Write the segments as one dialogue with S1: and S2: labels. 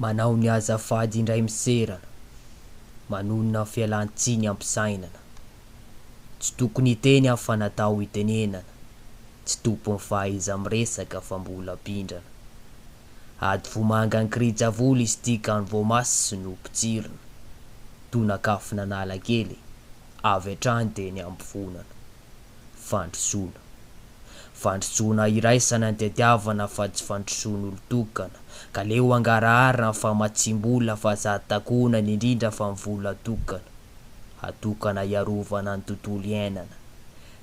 S1: Manao ny azafady indray miserana, manonona fialan-tsiny ampisainana, tsy tokony hiteny aho fa natao hitenenana, tsy tompon'ny fahaiza-miresaka fa mbola mpindrana. Ady vomanga an-kirija-vola izy ity ka ny voamaso no potsirina, tonakafona Analakely, avy hatrany dia ny ampofonana. Fandrosoana. Fandrosoana iraisana ny tetiavana fa tsy fandrosoan'olon-tokana, ka leo hangarahara ny famatsiam-bola fa sady takonana indrindra fa ny vola tokana, hatokana hiarovana ny tontolo iainana.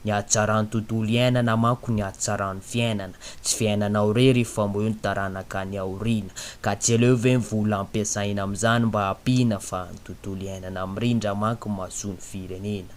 S1: Ny hatsaran'ny tontolo iainana manko ny hatsaran'ny fiainana, tsy fiainanao rery fa moa eo ny taranaka any aoriana, ka tsy aleo ve ny vola ampiasaina amin'izany mba hampiana fa ny tontolo iainana mirindra manko mahasoa ny firenena.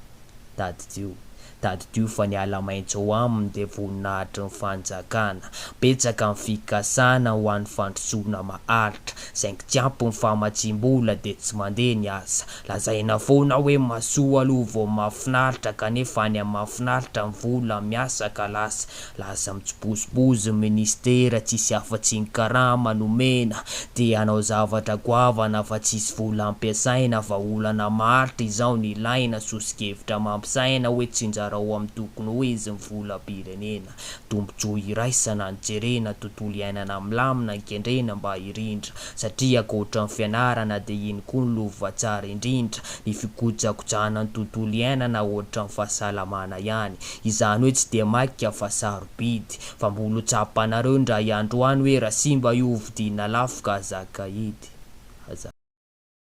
S1: Tadidio, tadidio fa ny ala maitso ao aminy dia voninahitry ny fanjakana. Betsaka ny fikasana ho an'ny fandrosoana maharitra, saingy tsy ampy ny famatsiam-bola dia tsy mandeha ny asa. Lazaina foana hoe mahasoa aloha vao mahafinaritra kanefa any amin'ny mahafinaritra ny vola miasa ka lasa Lasa mitsibozibozy ny ministera tsisy afatsy ny karama nomena dia hanao zavatra goavana fa tsisy vola ampiasaina fa olana maritra izao no ilaina soso-kevitra mampisaina hoe tsinjarao amin'ny tokony ho izy ny volam-pirenena tombotsoa iraisana ny jerena tontolo iainana milamina ny kendrena mba hirindra satria ankoatra ny fianarana dia iny koa no lova tsara indrindra ny fikojakojana ny tontolo iainana ohatra ny fahasalamana ihany Izany hoe tsy dia maika fa sarobidy. Fa mbola ho tsapanareo indray andro any hoe raha simba io hovidiana lafo ka aza kaidy. Aza.